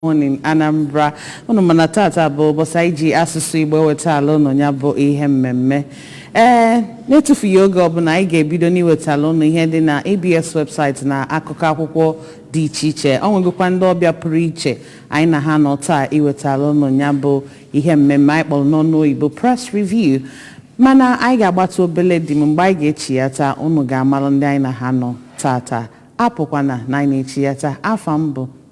morning anambra unu ma na tata bụ ụbọchị anyị ji asụsụ igbo ewetala unu ya bụ ihe mmemme ee n'etufughị oge ọbụla anyị ga-ebido n'iwetala unu ihe dị na abs website na akụkọ akwụkwọ dị iche iche o nwegokwa ndị ọbịa pụrụ iche anyị na ha nọ taa iwetala unu ya bụ ihe mmemme anyị kpọrọ n'ọnụ oyibo press review mana anyị ga-agbata obele dị m mgbe anyị ga-echiyata unu ga-amalụ ndị anyị na ha nọ tata apụkwana na anyị na-echiyata afa m bụ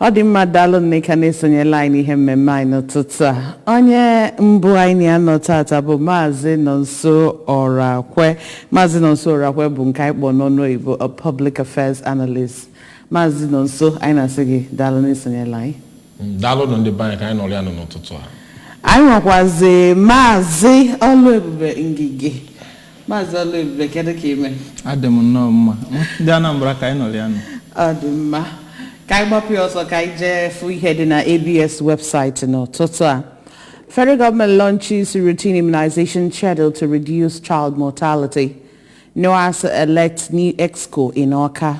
ọ dị mma daalụ nneka n'isonyela anyị n'ihe mmemme anyị n'ụtụtụ a onye mbụ anyị na ya nọ tata bụ maazị nonso ọrakwe maazị nonso ọrakwe bụ nke anyị kpọ n'ọnụ oyibo a public affairs analyst maazị nonso anyị na-asị gị daalụ n'isonyela anyị Daalụnụ ndị be anyị ka anyị nọrịa nụ n'ụtụtụ a. anyị nwekwazi maazị ọlụebube ngige maazị ọlụebube kedu ka i me adị m nnọọ mma ndị anambra ka anyị nọrịa nụ ọ dị mma ka anyị gbapụ ya ọsọ ka anyị jee fụ ihe dị na abs website n'ụtụtụ a federal government launches routine immunization schedule to reduce child mortality noas elects new exco in awka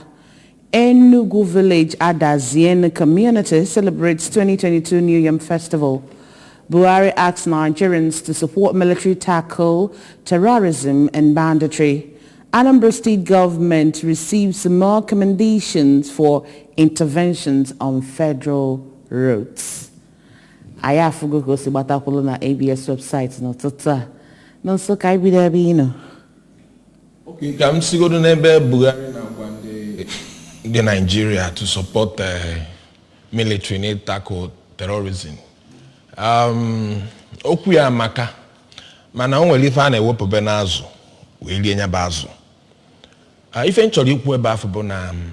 Enugu Village Adazi-Enu community celebrates 2022 New Yam Festival. Buhari asks Nigerians to support military tackle terrorism and banditry. Anambra State government receives more commendations for interventions on federal roads. Anyị afụgo ka o si gbata kwụlụ na ABS website n'ụtụtụ a. Nonso ka anyị bido ebe ị nọ. Okay, ka m sigodo n'ebe Buhari na-agwa ndị ndị Naijiria to support eh, military na ị-tackle terrorism um, okwu ya amaka mana o nwere ife a na-ewepụbe n'azụ wee rie nya bụ azụ Ah, ife m chọrọ ikwu ebe afụ bụ na um,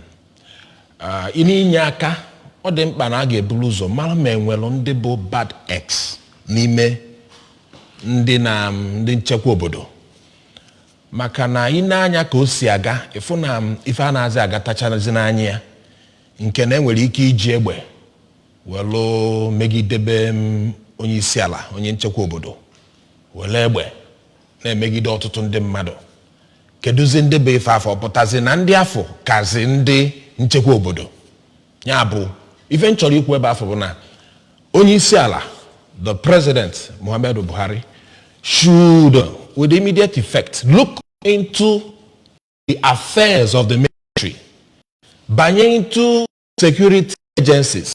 ah, n'inye aka ọ dị mkpa na a ga-eburu ụzọ mara ma e nwere ndị bụ bad eggs n'ime ndị na um, ndị nchekwa obodo Maka na i nee anya ka o si aga, ị fụ na ife anaghịzị agatachazi n'anya ya nke na e nwere ike iji egbe welu megidebe onyeisiala, onye nchekwa obodo, welu egbe na-emegide ọtụtụ ndị mmadụ. Kedụzi ndị bụ ife afụ? Ọ pụtazi na ndị afụ kazi ndị nchekwa obodo? ya bụ ife m chọrọ ikwu ebe afụ bụ na onye isi ala the president muhammadu buhari should with immediate effect look into the affairs of the military banye into security agencies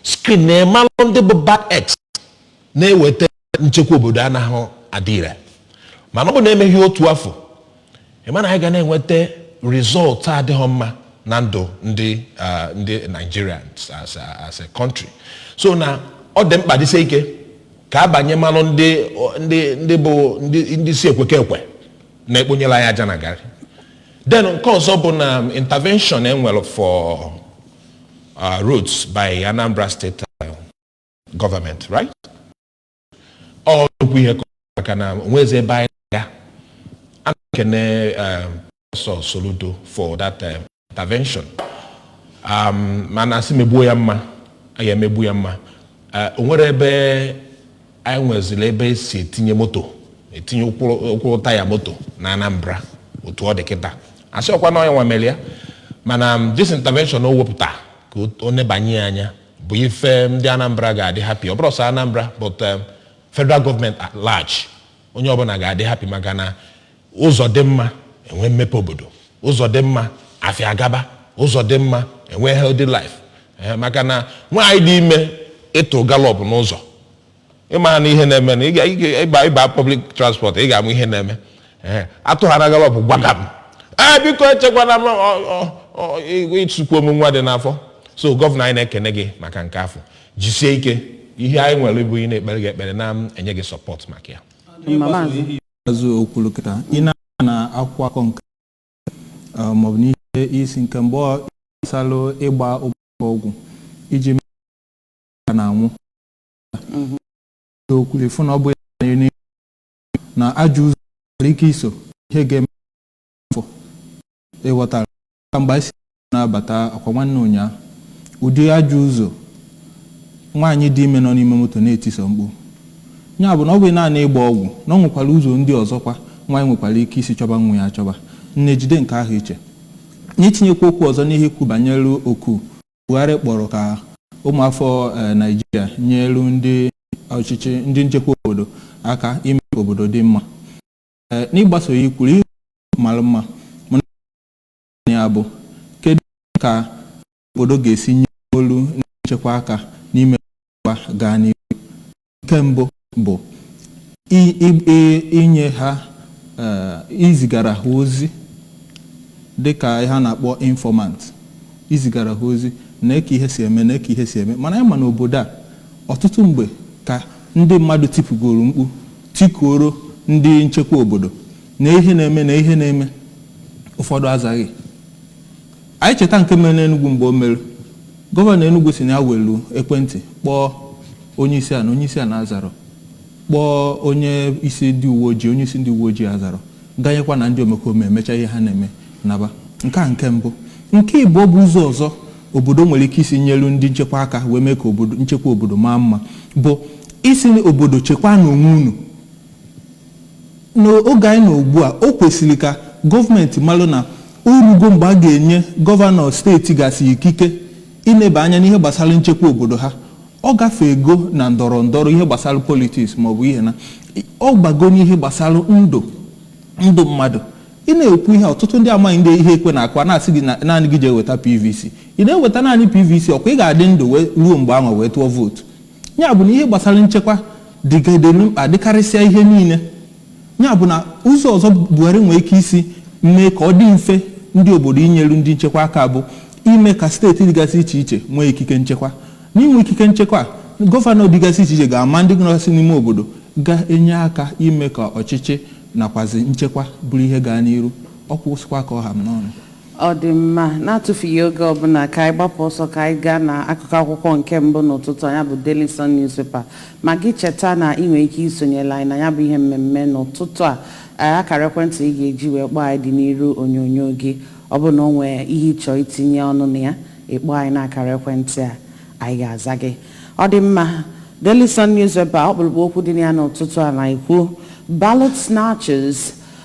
screen na ịmalụ ndị bụ bad eggs na-eweta nchekwa obodo anaghị adị ire mana ọ bụ na-emeghị otu afụ ịma na anyị ga na-enweta result adịghị mma na ndụ ndị ah, ndị Naijiria as a- as a country so na ọ dị mkpa dịsie ike ka a banye marụ ndị ndị ndị bụ ndị ndị si ekweke ekwe na-ekponyelu anyị aja na garị then nke ọzọ bụ na intervention enwere for uh, roads by Anambra State government right ọ nnukwu ihe ka maka na onwezi ebe anyị na-aga a na-ekene ọsọ um, Soludo for that um, intervention um, mana asị megbuo ya mma a ga-emegbu ya mma uh, o nwere ebe anyị nweziri ebe esi etinye moto etinye ụkwụ taya moto na Anambra otu ọ dị kịta asị ọkwa na onye nwa mere ya mana this intervention o wepụta ka ọ nebanye ya anya bụ ife ndị Anambra ga-adị happy ọ bụrọ sọ Anambra but um, federal government at large onye ọbụla ga-adị happy maka na ụzọ dị mma enwe mmepe obodo ụzọ dị mma afịa agaba ụzọ dị mma enwe healthy life Eh, maka na nwaanyị dị ime ịtụ gallop n'ụzọ ịmara na ihe na-eme na ịga- ịga- ịba ịba public transport ị ga-ama ihe na-eme Ee, atụ ha na gallop gbagam ee biko echekwana m ọ- ọ- ọ- ị- ịtụkwu m nwa dị n'afọ so gọvanọ anyị na-ekene gị maka nke afụ jisie ike ihe anyị nwere bụ ị na-ekpere gị ekpere na-enye gị support maka ya mma Maazị Azụ okwuru kịta ị na na akwụkwọ akọ nke eh, maọbụ n'ihe isi nke mgbe ọ gbasalụ ịgba ụgbọ ọgwụ iji mee ka na-anwụ okwu efu na ọ bụ na ajọ ụzọ nwere ike iso ihe ga-eme afọ ịghọtara ka mgbe anyị si na-abata akwa nwanne ụnyaahụ ụdị ajọ ụzọ nwaanyị dị ime nọ n'ime moto na-etiso mkpu ya bụ na ọ bụghị naanị ịgba ọgwụ na ọ nwekwara ụzọ ndị ọzọkwa nwaanyị nwekwara ike isi chọba nwa ya achọba nne jide nke ahụ iche n'itinyekwa okwu ọzọ n'ihe ikwu banyere oku Buhari kpọrọ ka ụmụafọ Naịjirịa nyelu ndị ọchịchị ndị nchekwa obodo aka ime ka obodo dị mma. N'ịgbaso ya i kwuru ihe mara mma mana ya bụ kedu ka obodo ga-esi nyelu ndị nchekwa aka n'ime ka nchekwa gaa n'ihu. nke mbụ bụ i- i- i- inye ha eh, izigara ha ozi dịka ihe a na-akpọ informant izigara ha ozi na eke ihe si eme na eke ihe si eme mana anyị ma na obodo a ọtụtụ mgbe ka ndị mmadụ tipụgoro mkpu tikuoro ndị nchekwa obodo na ihe na-eme na ihe na-eme ụfọdụ azaghị Anyị cheta nke mere n'Enugwu mgbe o mere, Gọvanọ Enugwu sị na ya welu ekwentị kpọọ onyeisiala, onyeisiala azarọ, kpọọ onye isi ndị uweojii, onye isi ndị uweojii azarọ, ganyekwa na ndị omekome emecha ihe ha na-eme naba. Nke a nke mbụ. Nke ịbụọ bụ ụzọ ọzọ obodo nwere ike isi nyelu ndị nchekwa aka wee mee ka nchekwa obodo maa mma bụ ịsị obodo chekwaanụ onwe unu. N'oge anyị nọ ugbua, o kwesiri ka gọọmenti malụ na o rugo mgbe a ga-enye gọvanọ steeti gasị ikike ịneba anya n'ihe gbasara nchekwa obodo ha. Ọ gafeego na ndọrọ ndọrọ, ihe gbasara politics maọbụ ihe na ọ bago n'ihe gbasara ndụ ndụ mmadụ. Ị na-ekwu ihe a, ọtụtụ ndị amaghịdị ihe ekwe na-akụ, a na-asị gị na naanị gị jee weta PVC. Ị na-eweta naanị PVC, ọkwa ị ga-adị ndụ wee ruo mgbe ahụ wee tụọ vootu? Ya bụ na ihe gbasara nchekwa dịgadelu mkpa dịkarịsịa ihe niile. Ya bụ na ụzọ ọzọ Buhari nwere ike isi mee ka ọ dị mfe ndị obodo inyeru ndị nchekwa aka bụ ime ka steeti dịgasị iche iche nwee ikike nchekwa. N'inwe ikike nchekwa a, gọvanọ dịgasị iche iche ga-ama ndị nọgasị n'ime obodo ga-enye aka ime ka ọchịchị nakwazi nchekwa bụrụ ihe gaa n'iru. Ọ kwụsịkwa ka ọ ha m n'ọnụ. Ọ dị mma, na-atụfughị oge ọbụla ka anyị gbapụ ọsọ ka anyị gaa na akụkọ akwụkwọ nke mbụ n'ụtụtụ a, ya bụ Daily Sun Newspaper. Ma gị cheta na ị nwere ike isonyelu anyị na ya bụ ihe mmemme n'ụtụtụ a. Ee, akara ekwentị ị ga-eji wee kpọọ anyị dị n'iru onyonyo gị. Ọ bụrụ na o nwee ihe ị chọọ itinye ọnụ na ya, ị kpọọ anyị n'akara ekwentị a, anyị ga-aza gị. Ọ dị mma, Daily Sun Newspaper, ọkpụrụkpụ okwu dị na ya n'ụtụtụ a na-ekwu, Ballot snatchers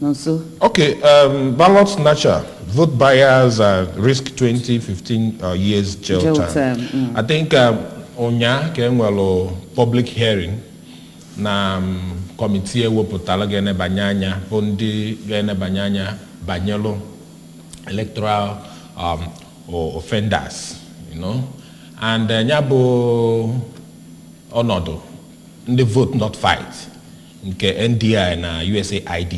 Nonso. Okay, um, ballot snatcher, vote buyers, uh, risk 20, 15 uh, years jail term, mm. I think um, ụnyaa ka enwelu public hearing na um, kọmitii ewepụtalụ ga-enebanye anya bụ ndị ga-enebanye anya banyelu electoral um, o- offenders, you know? and uh, ya bụ ọnọdụ ndị Vote Not Fight nke NDI na USAID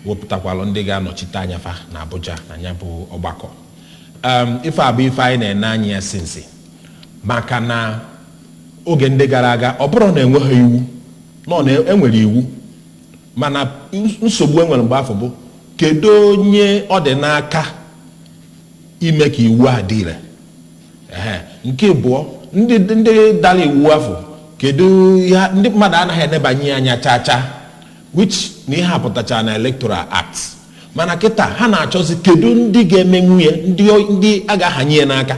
wepụtakwalụ ndị ga-anọchite anya fa na Abuja na ya bụ ọgbakọ um, ife a bụ ife anyị na-ene anya ya since maka na oge ndị gara aga ọ bụrọ na enweghị iwu, no, na enwere iwu mana nsogbu enwere mgbe afụ bụ kedu onye ọ dị n'aka ime ka iwu a dị ire Ehe. nke ịbụọ ndị ndị dalụ iwu afụ kedu ihe ha- ndị mmadụ anaghị enebanye ya anya chaa chaa which na ihe a pụtachara na electoral act mana kịta ha na-achọzi kedu ndị ga-emenwu ya ndị o- ndị a ga-ahanye ya n'aka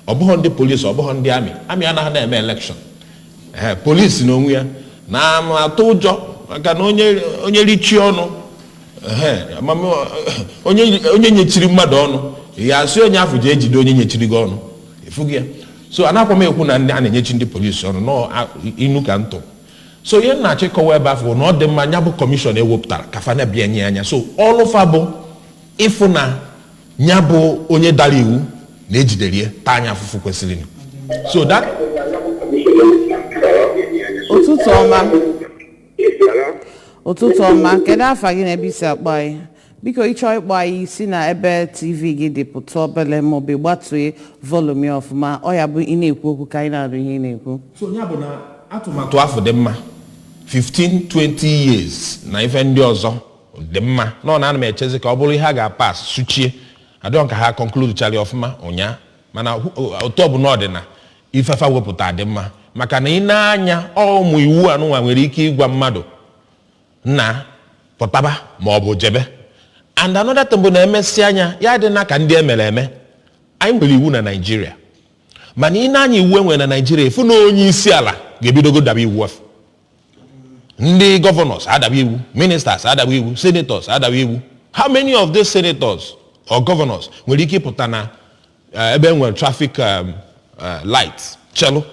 ọ bụhọ ndị polisi ọ bụhọ ndị amị amị anaghị na-eme election ee polisi n'onwe ya ana m atụ ụjọ maka na onye onye richie ọnụ onye nyechiri mmadụ ọnụ ya asị onye afụ jee jide onye nyechiri gị ọnụ efughị ya so ana kwa m ekwu na a na-enyechi ndị polisi ọnụ n'inu ka ntụ so ihe na-achọ ịkọwa ebe afụ na ọ dị mma nya bụ kọmishọn e wepụtara ka fa neba ya anya so ọlụ fa bụ ịfụ na nya bụ onye dara iwu na e jidere ya taa nya afụfụ kwesịrị so that ụtụtụ ọma ụtụtụ ọma kedu afa gị na ebe i si akpọ anyị biko ị chọọ ịkpọ anyị si na ebe tv gị dị pụta obele ma ọ bụ gbatue volume ya ọfụma ọ ya-abụ ị na-ekwu okwu ka anyị na-anụ ihe ị na-ekwu so nya bụ na atụmatụ afụ dị mma 15 20 years na ife ndị ọzọ dị mma na ọ na ana m echezi ka ọ bụrụ ihe a ga-apass suchie ọ dịghị m ka ha concludechara ya ọfụma ụnyaa mana hụ- otu ọbụla ọ dị na ife fa wepụta dị mma maka na i nee anya ụmụ iwu anụnwa nwere ike ịgwa mmadụ na pụtaba ma ọ bụ jebe and another thing bụ na e mesịa nya adịna ka ndị e mere eme anyị nwere iwu na Naịjirịa mana i nee anya iwu e nwere na Naịjirịa ị fụ na onye isi ala ga-ebidogo daba iwu afụ ndị governors adaba iwu ministers adaba iwu senators adaba iwu how many of these senators or governors nwere ike ịpụta na eh, ebe e nwere traffic um, eh, light chelu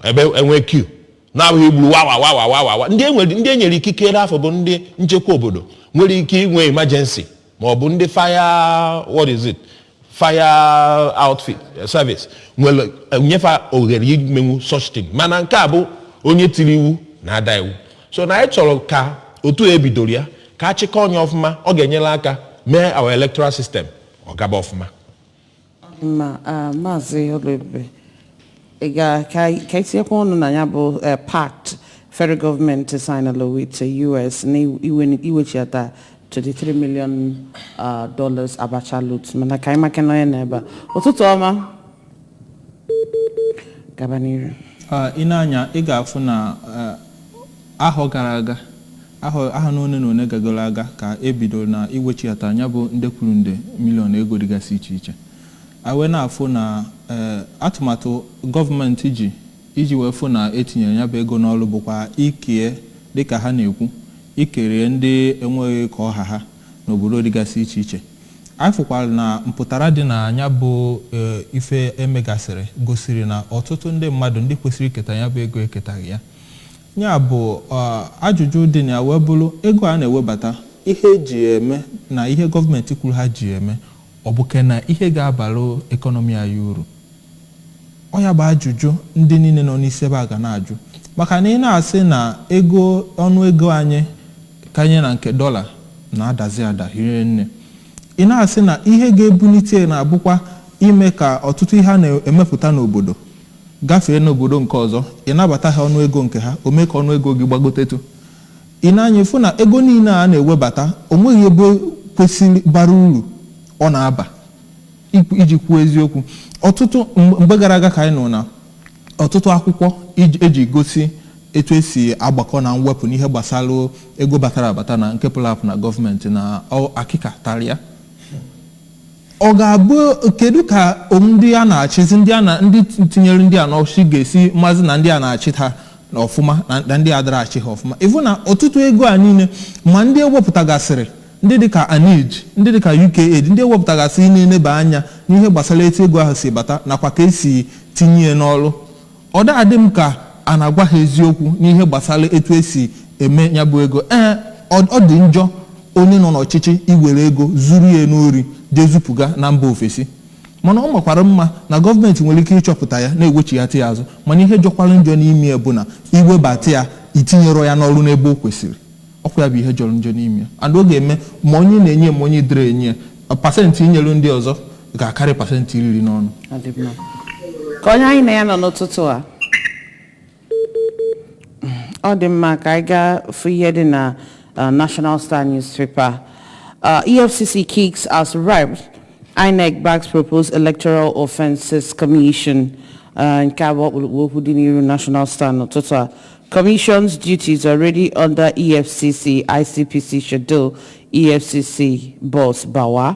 ebe e nwe queue na-abụghị igburu wawa wawa wawa wa ndị e nwere ndị e nyere ikikere afụ bụ ndị nchekwa obodo nwere ike inwe emergency ma ọ bụ ndị fire what is it fire outfit eh, service nwere eh, nye fa ohere imenwu such thing mana nke a bụ onye tiri iwu na-ada iwu so na anyị chọrọ ka otu e bidoro ya ka a chịkọọ nya ọfụma ọ ga-enyere aka mee our electoral system ọ gaba ọfụma ma ah, maazị Oluebube ị ga ka anyị ka anyị tinyekwa ọnụ na nya bụ eh, pact federal gọọmenti signala with eh, US na iwe- iwechiata 23 million ah, dollars Abacha loot mana ka anyị maka na onye nọ ebe a. ụtụtụ ọma gaba n'iru Ah, i nee anya ị ga-afụ na ah, Ahọ gara aga, ahọ ahọ one na one gagoro aga ka e bidoro na iwechighata nya bụ nde kwuru nde million ego dịgasị iche iche. Anyị wee na-afụ na ee, atụmatụ gọọmenti ji iji wee fụ na e tinyere nya bụ ego n'ọrụ bụkwa ikee, dịka ha na-ekwu, ikere ndị enweghị ka ọ ha ha n'obodo dịgasị iche iche. Anyị fụkwara na mpụtara dị na nya bụ ee, ife e megasịrị gosiri na ọtụtụ ndị mmadụ ndị kwesịrị iketa nya bụ ego eketaghị ya. Ya bụ, ajụjụ dị na ya wee bụrụ, ego a na-ewebata, ihe e ji ya eme na ihe gọọmenti kwuru ha ji ya eme, ọ bụ ke na ihe ga-abara ekọnọmi anyị uru? Ọ ya bụ ajụjụ ndị niile nọ n'isi ebe a ga na-ajụ. Maka na ị na-asị na ego ọnụ ego anyị kanye na nke dọla na-adazi ada hie nne. Ị na-asị na ihe ga-ebulite ya na-abụkwa ime ka ọtụtụ ihe a na-emepụta n'obodo gafee n'obodo nke ọzọ, ị nabata ha ọnụ ego nke ha, o mee ka ọnụ ego gị gbagotetụ. Ị nee anya, ị fụ na ego niile a a na-ewebata, o nweghị ebe kwesịrị bara uru ọ na-aba. Ikwu- Iji kwuo eziokwu, ọtụtụ mgbe mgbe gara aga ka anyị nụrụ na ọtụtụ akwụkwọ iji- eji gosi etu esi agbakọ na mwepụ n'ihe gbasara ego batara abata na nke pụrụ apụ na gọọmenti na ọ- akịka tara ya ọ ga-abụ kedu ka um, ndị a na-achịzi ndị a na ndị tinyere ndị a n'ọchịchị ga-esi mazi na ndị a na-achị ha na ọfụma na- na ndị adara achị ha ọfụma ịfụ na ọtụtụ ego a niile ma ndị ewepụtagasịrị ndị dịka aneej ndị dịka uk aid ndị ewepụtagasịrị na-eneba anya n'ihe gbasara etu ego ahụ si bata nakwa ka esi tinye ya n'ọrụ Ọ da adị m ka a na-agwa ha eziokwu n'ihe gbasara etu e si eme ya bụ ego. Ee, ọ ọ dị njọ onye nọ n'ọchịchị iwere ego zuru ya n'ori jee zupụga na mba ofesi. Mana ọ makwara mma na gọọmenti nwere ike ịchọpụta ya na-ewechighata ya azụ mana ihe jọkwara njọ n'ime ya bụ na iwebata ya itinyerọ ya n'ọrụ n'ebe o kwesịrị. Ọ kwa ya bụ ihe jọrọ njọ n'ime ya. And ọ ga-eme ma onye na-enye ya ma onye dịrị enye ya, pasentị inyere ndị ọzọ ga-akarị pasentị iri n'ọnụ Ọ dị mma. ka onye anyị na ya nọ n'ụtụtụ a ọ dị mma ka anyị gaa fụ ihe dị na uh, national star newspaper uh, efcc kicks as reps inec backs proposed electoral offences commission uh, nke a bụ ọkpụrụkpụ okwu dị n'iru national star n'ụtụtụ a commission's duties already under efcc icpc schedule efcc boss bawa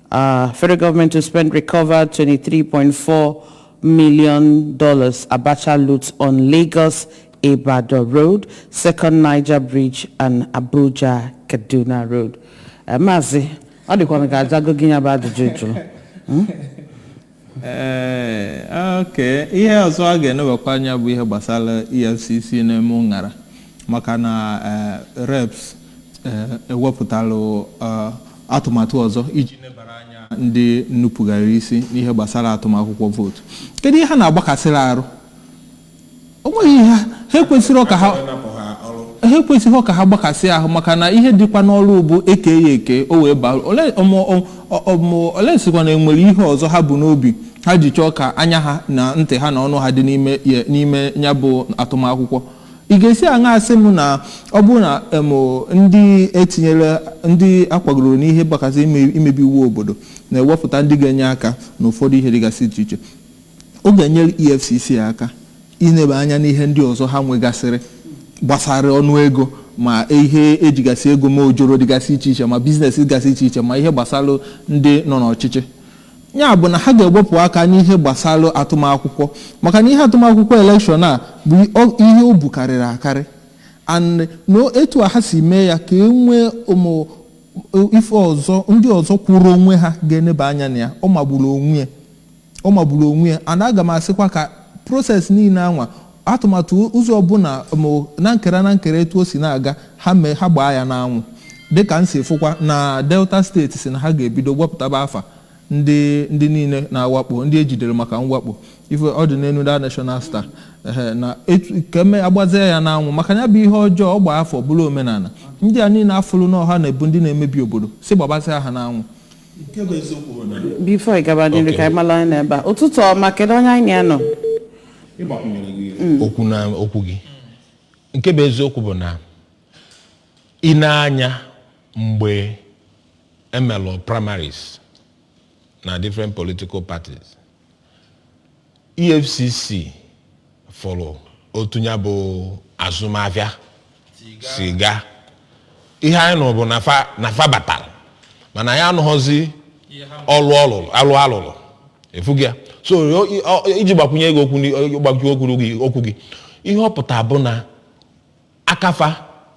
Uh, federal government to spend recovered 23.4 million dollars Abacha loot on Lagos Ibadan Road, Second Niger Bridge and Abuja Kaduna Road. Eh, Maazị, ọ dịkwa ka a zago gị ya bụ ajụjụ ị jụrụ. Hmm? Ee, okay, ihe ọzọ a ga-enebakwa anya bụ ihe gbasara EFCC na-eme ụṅara maka na eh, reps eh, ewepụtalụ eh, atụmatụ ọzọ iji nebara anya ndị nupụgara isi n'ihe gbasara atụm akwụkwọ vootu kedu ihe ha na-agbakasịrị arụ o nweghị ihe ha ha ekwesịrọ ka ha gbakasị ahụ maka na ihe dịkwa n'ọrụ bụ eke ya eke however ọmụ- ọ- ọ- ọmụ- unless kwa na enwere ihe ọzọ ha bu n'obi ha ji chọọ ka anya ha na ntị ha na ọnụ ha dị n'ime ya- n'ime ya bụ atụmakwụkwọ ị ga-esi aṅa asị m na ọ bụrụ na em, ndị etinyere ndị akwagoro n'ihe gbakasị ime- imebi iwu obodo na-ewepụta ndị ga-enye aka n'ụfọdụ ihe dịgasị iche iche Ọ ga-enyere EFCC aka ineba anya n'ihe ndị ọzọ ha nwegasịrị gbasara ọnụ ego ma ihe ejigasị ego ma ojoro dịgasị iche iche ma biznes dịgasị iche iche ma ihe gbasara ndị nọ n'ọchịchị ya bụ na ha ga-ewepụ aka n'ihe gbasara atụmakwụkwọ maka na ihe atụmakwụkwọ elekshọn a bụ ihe o bukarịrị akarị and na etu a ha si mee ya ka e nwee ụmụ ife ọzọ ndị ọzọ kwụrụ onwe ha ga-eneba anya na ya ọ magburu onwe ya Ọ magburu onwe ya and aga m asịkwa ka process niile anwa, atụmatụ ụzọ ọbụla ma na nkera na nkera etu o si na-aga, ha mee ha gbaa ya n'anwụ. Dịka m si fụkwa na Delta steeti sị na ha ga-ebido wepụtaba afa ndị ndị niile na-awakpo, ndị e jidere maka mwakpo. Ife ọ dị n'elu The National Star. Ehe, na etu ka eme agbazie ya n'anwụ maka na ya bụ ihe ọjọọ ọ gbaa afọ bụrụ omenala. Ndị a niile afụrụ na ọ ha na-abụ ndị na-emebi obodo, sị gbabazịa ha n'anwụ. before ị gaba n'iru ka anyị mara onye nọ ebe a ụtụtụ ọma kedu onye anyị na ya nọ okwu na okwu gị nke bụ eziokwu bụ na i nee anya mgbe e melu primaries na different political parties EFCC fụrụ otu ya bụ azụmahịa si gaa ihe anyị nụrụ bụ na fa na fa batara mana anyị anụghọzi ọlụ ọlụlụ alụ alụlụ afụghị ya so o- i- ọ- iji gbakwunye gị okwu ni- gbakwunye okwu gị okwu gị ihe ọ pụta bụ na aka fa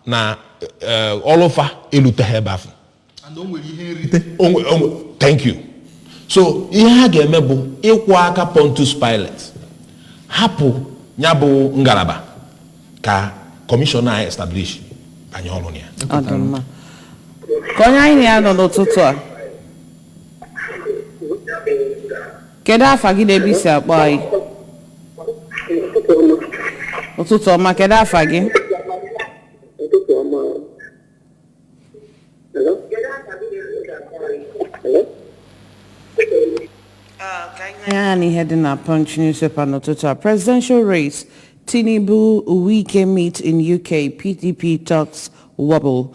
na eh, ọlụ fa eluteghị ebe afụ thank you so ihe ha ga-eme bụ ịkwọ aka Pontius Pilate hapụ ya bụ ngalaba ka kọmishọn a establish banye ọrụ na ya ọ dị mma ka onye anyị na ya nọ n'ụtụtụ a Kedu afa gị na ebe isi akpọ anyị? Ụtụtụ ọma, kedu afa gị? Ụtụtụ ọma. Hello? Hello? ya na ihe dị na Punch newspaper n'ụtụtụ a presidential race Tinubu Wike meet in UK PDP talks wobble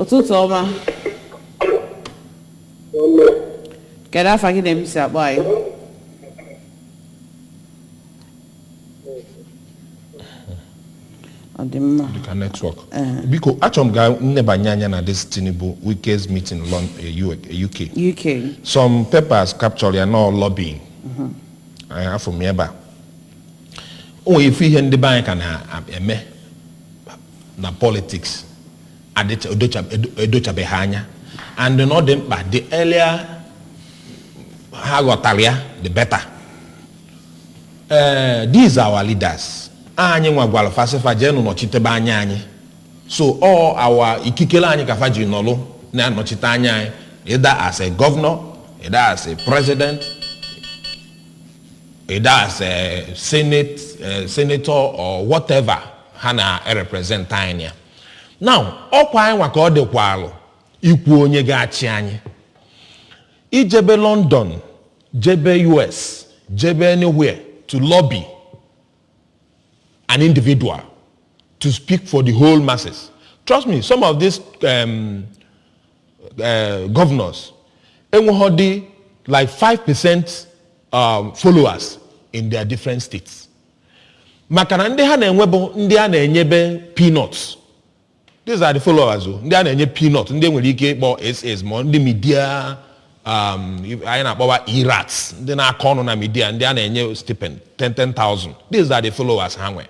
ụtụtụ ọma kedu afa gị na ebe i si akpọ anyị ọ dị mma dịka netwọk biko achọrọ m ka m nebanye anya na this tinubu wike's meeting lon eh, U- eh, uk uk some papers capture ya na ọ lobbying afụ m ya ebe a o nwere ife ihe ndị be anyị ka na-eme na politics adịcha- edocha- edo- edochabeghị anya and na ọ dị mkpa the earlier ha ghọtara ya the better Eh, these are our leaders anyị nwa gwara fa sị fa jee nụ nọchitebe anya anyị so all our ikikele anyị ka fa ji nọlụ na-anọchite anya anyị either as a governor either as a president either as a senate eh, senator or whatever ha na-erepresent anyị now ọ kwa anyị nwa ka ọ dịkwalụ ikwu onye ga-achị anyị ijebe london jebe us jebe anywhere to lobby an individual to speak for the whole masses trust me some of these um, uh, governors enweghịdị like 5 percent um, followers in their different states maka na ndị ha na-enwe bụ ndị a na-enyebe peanuts these are the followers ọ ndị a na-enye peanut ndị e nwere ike ịkpọ ss ma ndị media um, anyị na-akpọwa e-rats ndị na-akọ ọnụ na media ndị a na-enye stipend 10 10,000 these are the followers ha nwee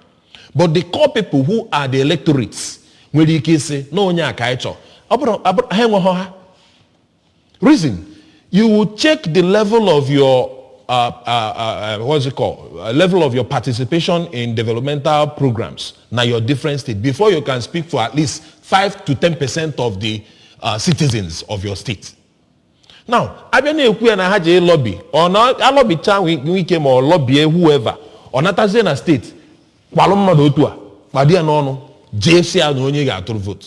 but the core people who are the electorates nwere ike ịsị na onye a ka anyị chọọ ọ bụrụ ọ bụrụ- ha enweghị ha Reason, you will check the level of your uh, uh, uh, what's it called? Uh, level of your participation in developmental programs na your different state before you can speak for at least five to ten percent of the uh, citizens of your state. Now, a bịa na-ekwu ya na ha je lobby or na a lobbycha Wike ma ọ lobbie whoever ọ natazie na state kwalụ mmadụ otu a kpado ya n'onu jee sị ya na onye ga-atụrụ vote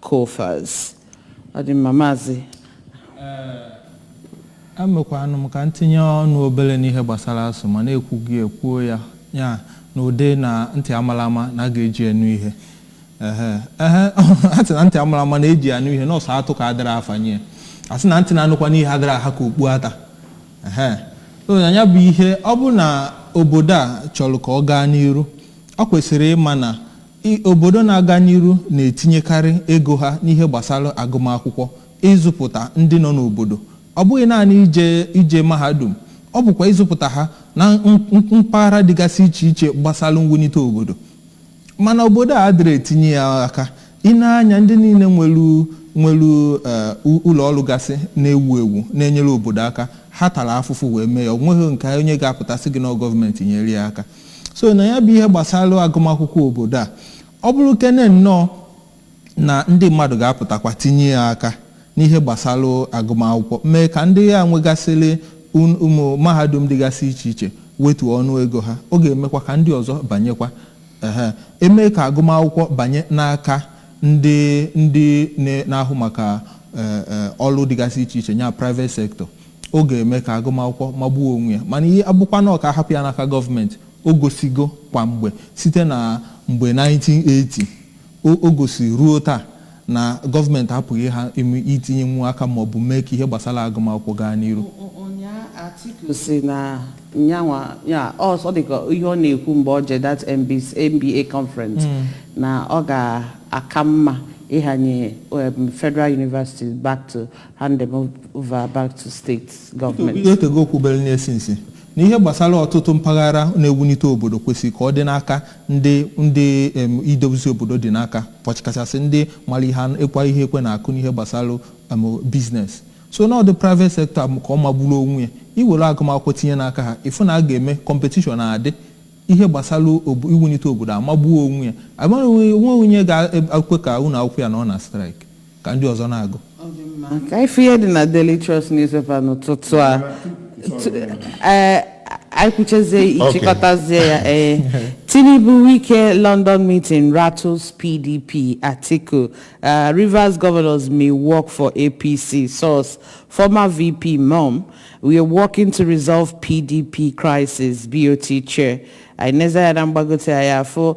Coffers. Ọ dị mma, Maazị. Ee, emekwanụ m ka m tinye ọnụ obere n'ihe gbasara ASUU ma na-ekwughị ya ekwuo ya ya na ụdị na ntị amara ama na a ga-eji anụ ihe ehe ehe a sị na ntị amara ama na-eji anụ ihe na ọ sọ atụ ka adịrọ afanye a sị na ntị na-anụkwanụ ihe adịrọ aha ka okpu ata ehe so na ya bụ ihe ọ bụ na obodo a chọrọ ka ọ gaa n'iru ọ kwesiri ịma na I Obodo na-aga n'iru na-etinyekarị ego ha n'ihe gbasara agụmakwụkwọ, ịzụpụta ndị nọ n'obodo, ọ bụghị naanị ije ije mahadum, ọ bụkwa ịzụpụta ha na mpaghara dịgasị iche iche gbasara mwunite obodo. Mana obodo a adịrọ etinye ya aka. I nee anya, ndị niile nwere nwere um ụlọ ọrụ gasị na-ewu ewu na-enyere obodo aka, ha tara afụfụ wee mee ya. O nweghị nke onye ga-apụta sị gị na ọ gọọmenti nyere ya aka. so na ya bụ ihe gbasara agụmakwụkwọ obodo a ọ bụrụ kene nnọọ na ndị mmadụ ga-apụtakwa tinye ya aka n'ihe gbasara agụmakwụkwọ mee ka ndị a nwegasịrị un- ụmụ mahadum dịgasị iche iche wetuo ọnụ ego ha ọ ga-emekwa ka ndị ọzọ banyekwa ehe e mee ka agụmakwụkwọ banye n'aka ndị ndị na- na-ahụ maka eh, eh, ọrụ dịgasị iche iche nya private sector Ọ ga-eme ka agụmakwụkwọ magbuo onwe ya. Mana ihe a bụkwanụ ka a hapụ ya n'aka gọọmenti. O gosigokwa mgbe site na mgbe 1980 o gosiri ruo taa na gọọmenti apụghị ha ime itinyenwu aka maọbụ mee ka ihe gbasara agụmakwụkwọ gaa n'iru. Ụnyaa Atiku sị na yanwa, ya ọ dị ka ihe ọ na-ekwu mgbe o je that NBA conference na ọ ga-aka mma ịhanye Federal Universities back to hand them over back to state Peter Obi government. o tego o kwubere n'ihe since na ihe gbasara ọtụtụ mpaghara na-ewunite obodo kwesịrị ka ọ dị n'aka ndị ndị em, idozi obodo dị n'aka kachasị ndị mara ihe an- ịkwa ihe ekwe na-akụ n'ihe gbasara em, business so na ọ ndị private sector m ka ọ magburu onwe ya iwere agụmakwụkwọ tinye n'aka ha ị fụ na a ga-eme competition adị ihe gbasara obo- iwunite obodo amagbuo onwe ya amaghị o nwe onye ga-ekwe ka ụlọ akwụkwọ ya na-anọ na strike ka ndị ọzọ na-agụ ka ife ihe dị na Daily Trust newspaper n'ụtụtụ a eh, anyị kwuchezie ịchịkọtazie ya ee eh. Tinubu Wike London meeting rattles PDP Atiku eh, Rivers governors may work for APC source former VP mum we are working to resolve PDP crisis BOT chair anyị nezie ya na mgbagote ya afọ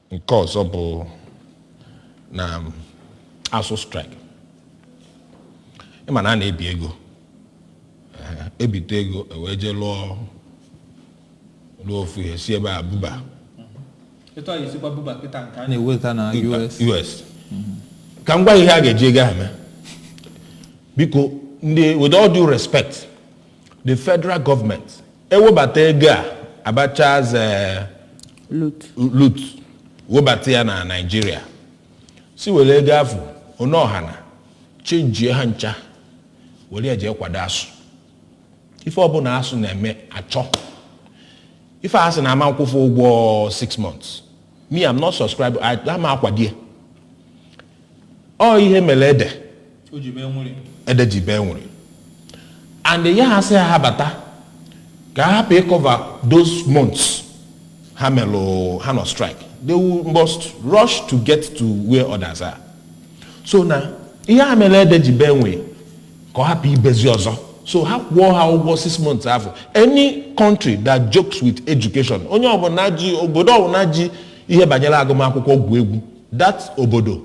nke ọzọ bụ na ASUU strike ịma na a na-ebi ego e bite ego e wee jee lụọ lụọ ofu ihe si ebe a buba na-eweta na US ka m gwa ihe a ga-eji ego ahụ mee biko ndị with all due respect the federal government ewebata ego a Abacha's eh, loot loot webata ya na Nigeria sị were ego afụ onye ọha na chenjie ha ncha were ya jee kwado ASUU ife ọbụla ASUU na-eme achọ ife a sị na a ma nkwụ fa ụgwọ 6 months me I'm not subscribe I- ama m akwado ya ọ ihe mere ede ede ji bee nwịị and ya ha sị ha bata ka ha hapụ ị cover those months ha melụ ha nọ strike they will must rush to get to where others are so na ihe a mere ede ji bee nwịị ka ọ hapụ ibezi ọzọ so ha kwụọ ha ụgwọ six months afụ any country that jokes with education onye ọbụla ji obodo ọbụla ji ihe banyere agụmakwụkwọ egwu egwu that obodo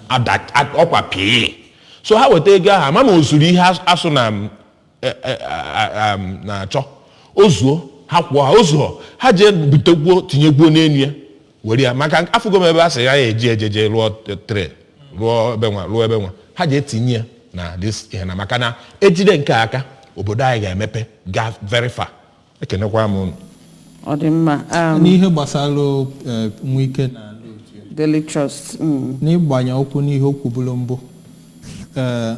ada ad- ọkwa pịị so ha weta ego ahụ ama ma o zuru ihe AS- ASUU na m, e, e, a- a- m, na-achọ o zuo ha kwụọ ha o zuo ha jee butekwuo tinyekwuo n'enu ya were ya maka afụgo m ebe a sị a ya-eji ejeje rụọ t- tre rụọ ebe nwa rụọ ebe nwa ha jee tinye ya na this ihe na maka na e jide nke a aka obodo anyị ga-emepe gaa very far ekenekwa m unu ọ dị mma um, n'ihe gbasara eh, Wike na ndị otu ya, Daily Trust mm, n'ịgbanye ụkwụ n'ihe o kwuburu mbụ ee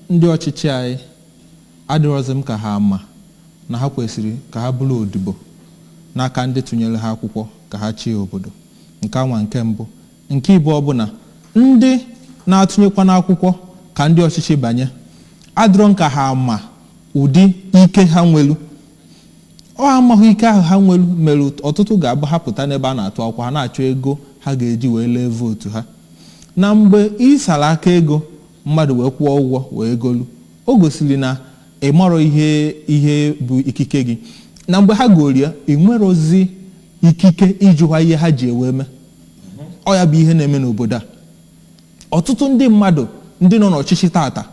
ndị ọchịchị anyị adịrọzi m ka ha ama na ha kwesịrị ka ha bụrụ odibo n'aka ndị tụnyere ha akwụkwọ ka ha chịa obodo nke anwa nke mbụ Nke ịbụọ bụ na ndị na-atụnyekwa n'akwụkwọ ka ndị ọchịchị banye, adịrọ m ka ha ama ụdị ike ha nwelu. Ọ amaghị ike ahụ ha nwelu mere ọtụtụ ga-abụ ha pụta n'ebe a na-atụ akwụkwọ, ha na-achọ ego ha ga-eji wee lee vootu ha. Na mgbe ị sara aka ego mmadụ wee kwụọ ụgwọ wee golu, o gosiri na ị marọ ihe ihe bụ ikike gị. Na mgbe ha golu ya, ị nwerọzi ikike ịjụwa ihe ha ji ya wee mee. ọ ya bụ ihe na-eme n'obodo a ọtụtụ ndị mmadụ ndị nọ n'ọchịchị tata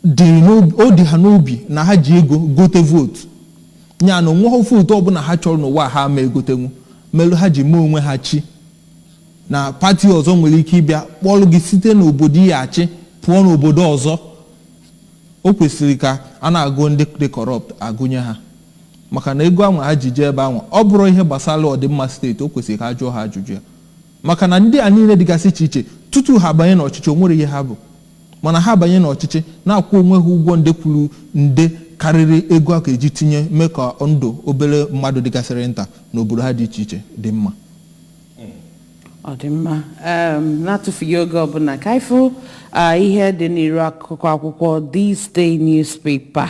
dị n'obi- o dị ha n'obi na ha ji ego gote vootu ya na o nweghị vootu ọbụla ha chọrọ n'ụwa ha ma egotenwu melu ha ji mee onwe ha chi na pati ọzọ nwere ike ịbịa kpọrọ gị site n'obodo ya achị pụọ n'obodo ọzọ o kwesịrị ka a na-agụ ndị dị corrupt agụnye ha maka na ego ahụ ha ji jee ebe ahụ ọ bụrụ ihe gbasara ọdịmma steeti o kwesịrị ka a jụọ ha ajụjụ ya maka na ndị a niile dịgasị iche iche tutu ha banye n'ọchịchị o nwere ihe ha bụ mana ha banye n'ọchịchị na-akwụ onwe ha ụgwọ nde kwuru nde karịrị ego a ga-eji tinye mee ka ndụ obere mmadụ dịgasịrị nta n'obodo ha dị iche iche dị mma ọ dị mma Em, n'atụfughị oge ọbụla ka anyị fụ ah, ihe dị n'iru akụkọ akwụkwọ This Day newspaper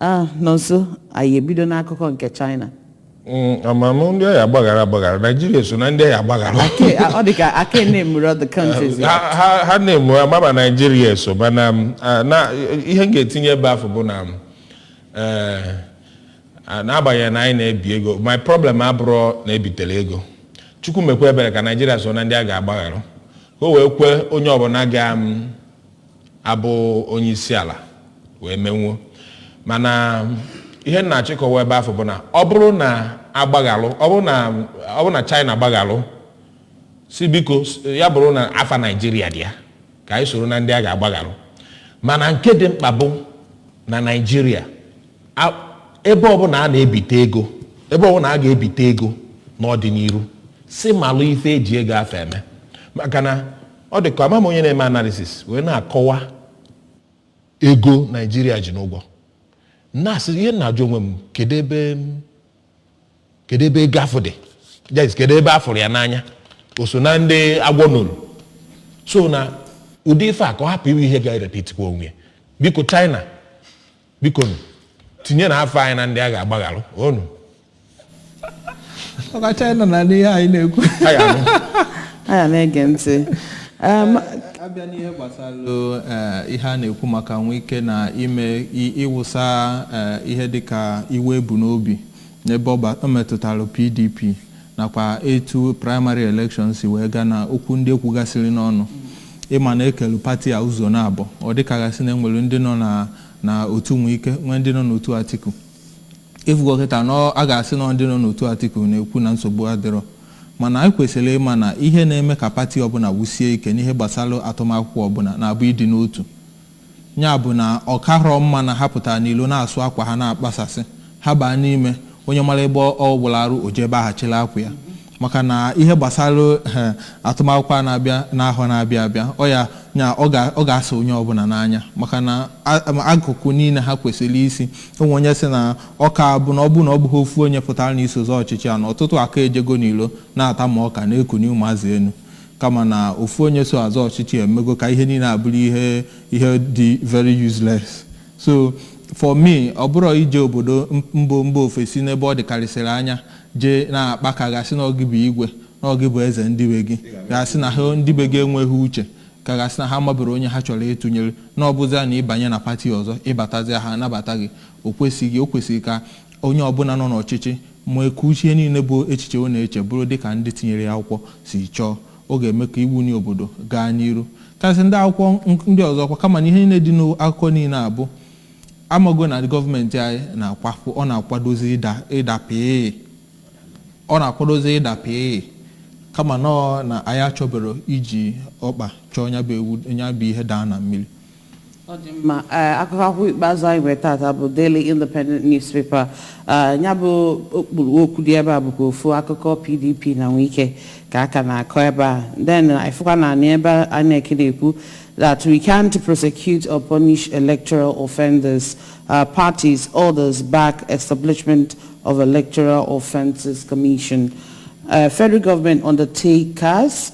Ah, Nonso, anyị ebido n'akụkọ nke China. Mm, ama mụ ndị ọ ya-agbaghara agbaghara naijiria so na ndị ọ ya-agbaghara Ake, ah, ọ dị ka a ka namerọ the countries. ha ha- ha name a maba naijiria so mana m, ah, na ihe m ga-etinye ebe afụ bụ na m, eh, ah, n'agbanyeghị na anyị na-ebi ego my problem abụrọ na e bitere ego chukwu mekwa ebere ka naijiria so na ndị a ga-agbaghara ka o wee kwe onye ọbụla ga m, abụ onye isi ala wee menwuo mana ihe m na-achọ ịkọwa ebe afụ bụ na ọ bụrụ na a gbaghalụ ọ bụrụ na ọ bụrụ na China gbaghalụ sị biko s- ya bụrụ na afa Naijiria dị ya ka anyị soro na ndị a ga-agbaghalụ mana nke dị mkpa bụ na Naijiria a- ebe ọbụla a na-ebite ego ebe ọbụla a ga-ebite ego n'ọdịniru sị malụ ife e ji ego afụ eme maka na ọ dị ka ama m onye na-eme analisis wee na-akọwa ego naijiria ji n'ụgwọ na-asị ihe m na-ajụ onwe m kedu ebe m- kedu ebe ego afụ dị Yes, kedu ebe a fụrụ ya n'anya o so na ndị agwọ nolu so na ụdị ife a ka ọ hapụ ịwụ ihe ga-erepitikwa onwe ya. biko china biko nụ, tinyenụ afa anyị na ndị a ga-agbaghalụ onu ọ ka China na-anụ ihe anyị na-ekwu a ga-anụ aya na-ege ntị Em, a bịa n'ihe gbasara eh, ihe a na-ekwu maka Wike na ime i- ịwụsa eh, ihe dịka iwe e bu n'obi N'ebe ọ metụtara PDP nakwa etu praịmarị elekshọn si wee ga na okwu ndị e kwugasịrị n'ọnụ, ị ma na e kelu pati a ụzọ naabọ. Ọ dị ka a ga-asị na e nwere ndị nọ na na otu Wike, nwee ndị nọ n'otu Atiku. Ị fụgo kịta na a ga-asị na ọ ndị nọ n'otu Atiku na-ekwu na nsogbu adịrọ. Mana anyị kwesịrị ịma na ihe na-eme ka pati ọbụla wusie ike n'ihe gbasara atụmakwụkwọ ọbụla na-abụ ịdị n'otu. Ya bụ na ọ karọ mma na ha pụtara n'ilo na-asụ akwa ha na-akpasasị, ha baa n'ime, onye mara ebe ọ wụlụ arụ, o jee ebe ahụ chịlị akwa ya. Maka na ihe gbasara atụmakwụkwọ a na-abịa n'ahọ na-abịa abịa, ọ ya ya ọ ga-asa onye ọbụla n'anya maka na akụkụ niile ha kwesịrị isi. O nwere onye sị na ọ ka bụ na ọ bụrụ na ọ bụghị ofu onye pụtara na iso zọọ ọchịchị a na ọtụtụ aka-ejego n'ilo na-ata ma ọka na-ekuni ụmụazị enu. kama na ofu onye so azọ ọchịchị a emego ka ihe niile abụrụ ihe ihe dị very useless so for me ọ bụrụ i jee obodo mbo mba ofesi n'ebe ọ dịkarịsịrị anya jee na-akpa ka a ga-asị na ọ gị bụ igwe na ọ gị bụ eze ndị be gị ga-asị na ha ndị be gị enweghị uche ka a ga-asị na ha amaberọ onye ha chọrọ ịtụnyere na ọ bụzia na ị banye na pati ọzọ ị batazia ha anabata gị o kwesịghị o kwesịrị ka Onye ọbụla nọ n'ọchịchị mee ka uche niile bụ echiche ọ na-eche bụrụ dịka ndị tinyere ya akwụkwọ si chọọ, ọ ga-eme ka iwuni obodo gaa n'iru. Kasị ndị akwụkwọ ndị ọzọ kwa, kama na ihe niile dị n'akụkọ niile a bụ amago na gọọmenti anyị na-akwapụ, ọ na-akwadozi ịda ịda pịị. Ọ na-akwadozi ịda pịị. Kama na ọ na anyị achọbero iji ọkpa chọọ ya bụ ihe daa na mmiri. Ọ dị mma. Ee, akụkọ akwụkwọ ikpeazụ anyị nwere tata bụ Daily Independent Newspaper. Ee, ya bụ okpuru okwu dị ebe a bụkwa ofu akụkọ PDP na Wike ka a ka na-akọ ebe a. Then ị fụkwa n'anị ebe a INEC na-ekwu that we can't prosecute or punish electoral offenders. Uh, parties, others back establishment of electoral offences commission. Uh, federal government undertakers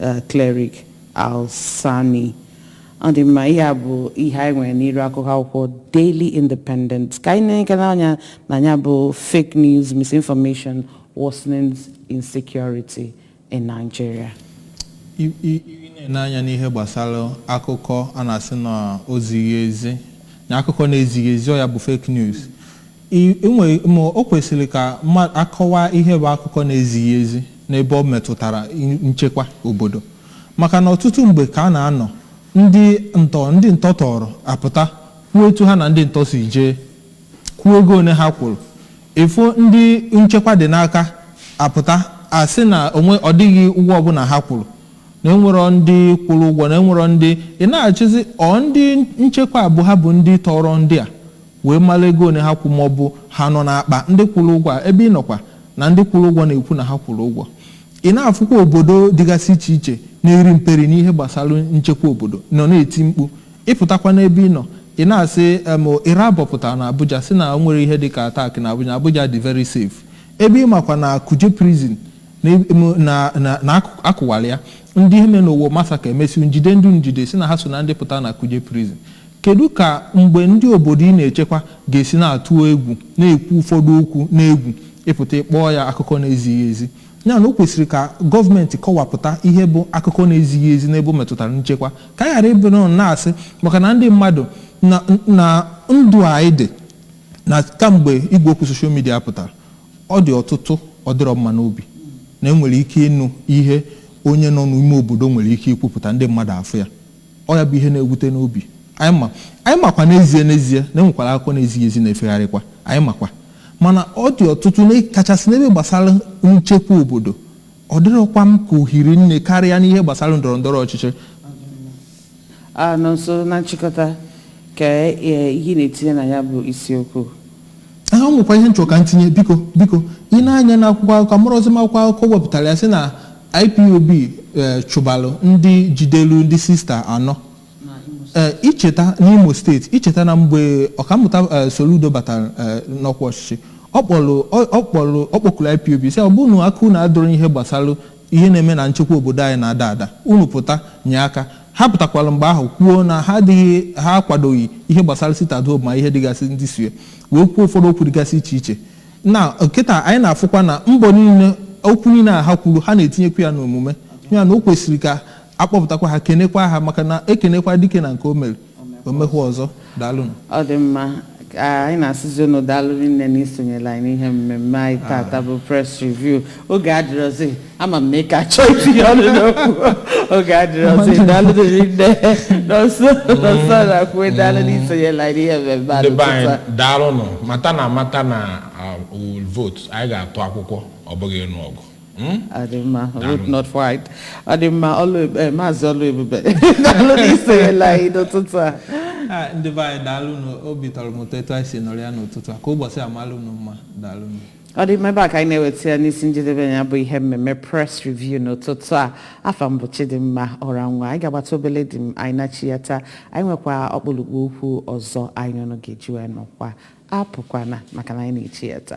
eh, Cleric Alsani ọ dị mma ihe a bụ ihe anyị nwere n'iru akụkọ akwụkwọ Daily Independent ka anyị nekene anya na ya bụ fake news misinformation worsens insecurity in Nigeria I- i- i na-ele anya n'ihe gbasara akụkọ a na-asị na o zighị ezi na akụkọ na-ezighị ezi ọ ya bụ fake news I i nwere ma o kwesịrị ka a kọwaa ihe bụ akụkọ na-ezighị ezi n'ebe ọ metụtara i- nchekwa obodo maka na ọtụtụ mgbe ka a na-anọ ndị ntọ ndị ntọ tọrọ apụta kwuo etu ha na ndị ntọ si jee kwuo ego one ha kwụrụ ị fụ ndị nchekwa dị n'aka apụta asị na o nwe- ọ dịghị ụgwọ ọbụla ha kwụrụ na enwerọ ndị kwụrụ ụgwọ na enwerọ ndị ị na-echezi ọ ndị nchekwa bụ ha bụ ndị tọrọ ndị a wee mara ego one ha kwụ maọbụ ha nọ n'akpa ndị kwụrụ ụgwọ a ebe ị nọkwa na ndị kwụrụ ụgwọ na-ekwu na ha kwụrụ ụgwọ. Ị na-afụkwa obodo dịgasị iche iche na-eri mperi n'ihe gbasara nchekwa obodo nọ na-eti mkpu. Ị pụtakwa n'ebe ị nọ, ị na-asị em Irabor pụtara n'Abuja sị na o nwerọ ihe dịka attack n'Abuja, na Abuja dị very safe. Ebe ị makwa na Kuje prison na em na na na akụ akụwara ya. Ndị ihe mere n'Owo massacre e mesịrị jide ndị e jide sị na ha so na ndị pụtara na Kuje prison. Kedụ ka mgbe ndị obodo ị na-echekwa ga-esi na-atụ egwu na-ekwu ụfọdụ okwu n'egwu ịpụta ịkpọọ ya akụkọ na-ezighị ezi? Ya na o kwesịrị ka gọọmenti kọwapụta ihe bụ akụkọ na-ezighị ezi n'ebe ọ metụtara nchekwa, ka anyị ghara ịbịa nọ na-asị maka na ndị mmadụ na na ndụ a anyị dị na kamgbe igwe okwu soshal midia pụtara, ọ dị ọtụtụ ọ dịrị m mma n'obi, na e nwere ike ịnụ ihe onye nọ n'ime obodo nwere ike ikwupụta, ndị mmadụ afụ ya. Ọ ya bụ ihe na-ewute n'obi. Anyị ma. Anyị makwa n'ezie n'ezie na e nwekwara akụkọ na-ezighị ezi na-efegharịkwa. Anyị makwa. Mana ọ dị ọtụtụ, na kachasị n'ebe gbasara nchekwa obodo. Ọ dịrọkwa m ka o hiri nne karịa n'ihe gbasara ndọrọ ndọrọ ọchịchị. Ah Nọnso, na nchịkọta, kee ihe ị na-etinye na ya bụ isiokwu? Ee, o nwekwa ihe m chọrọ ka m tinye. Biko, biko, i nee anya n'akwụkwọ akụkọ, amarọzi m akwụkwọ akụkọ wepụtara ya sị na Ipob eh, chụbalụ ndị jidelu ndị sista anọ Eh, i cheta n'Imo steeti i cheta na mgbe ọkammụta eh, Soludo batara eh, n'ọkwa ọchịchị ọ kpọrọ ọ- ọ kpọrọ ọ kpọkuru IPOB sị ọ bụrụ na aka unu adịrọ n'ihe gbasara ihe na-eme na nchekwa obodo anyị na-ada ada unu pụta nye aka ha pụtakwara mgbe ahụ kwuo na ha adịghị ha akwadoghị ihe gbasara sit at home na ihe dịgasị ndị so ya wee kwuo ụfọdụ okwu dịgasị iche iche na kịta anyị na-afụkwa na mbọ niile okwu niile a ha kwuru ha na-etinyekwu ya n'omume ya na o kwesịrị ka a kpọpụtakwa ha kenekwa ha maka na e kenekwa dike na nke o mere o mekwuo ọzọ daalụnụ ọ dị mma ka anyị na-asịzi unu daalụ rinne na isonyelu anyị n'ihe mmemme anyị tata bụ press review oge adịrọzi ama m na ị ka chọọ itinye ọnụ n'okwu oge adịrọzi daalụ rinne Nọnso Nọnso Nnakwue daalụ n'isonyelu anyị n'ihe mmemme a ndị be anyị n'ụtụtụ a. daalụnụ mata na amata na we will vote anyị ga-atụ akwụkwọ ọ bụghị ịnụ ọgụ Mm? ọ dị mma vote not fight ọ dị mma Ọlụebube eh, maazị Ọlụebube daalụ n'isonyelu anyị n'ụtụtụ a Ah, ndị be anyị daalụnụ obi tọrọ m ụtọ etu anyị si nọrịa n'ụtụtụ a ka ụbọchị malụ unu mma daalụnụ ọ dị mma ebe a ka anyị na-eweta ya n'isi njedebe ya bụ ihe mmemme press review n'ụtụtụ a afa m bụ Chidimma Ọranwa anyị ga-agbata obele dị m anyị na-echighata anyị nwekwa ọkpụlụkpụ okwu ọzọ anyị na unu ga-eji wee nọkwaa apụkwana maka na anyị na-echighata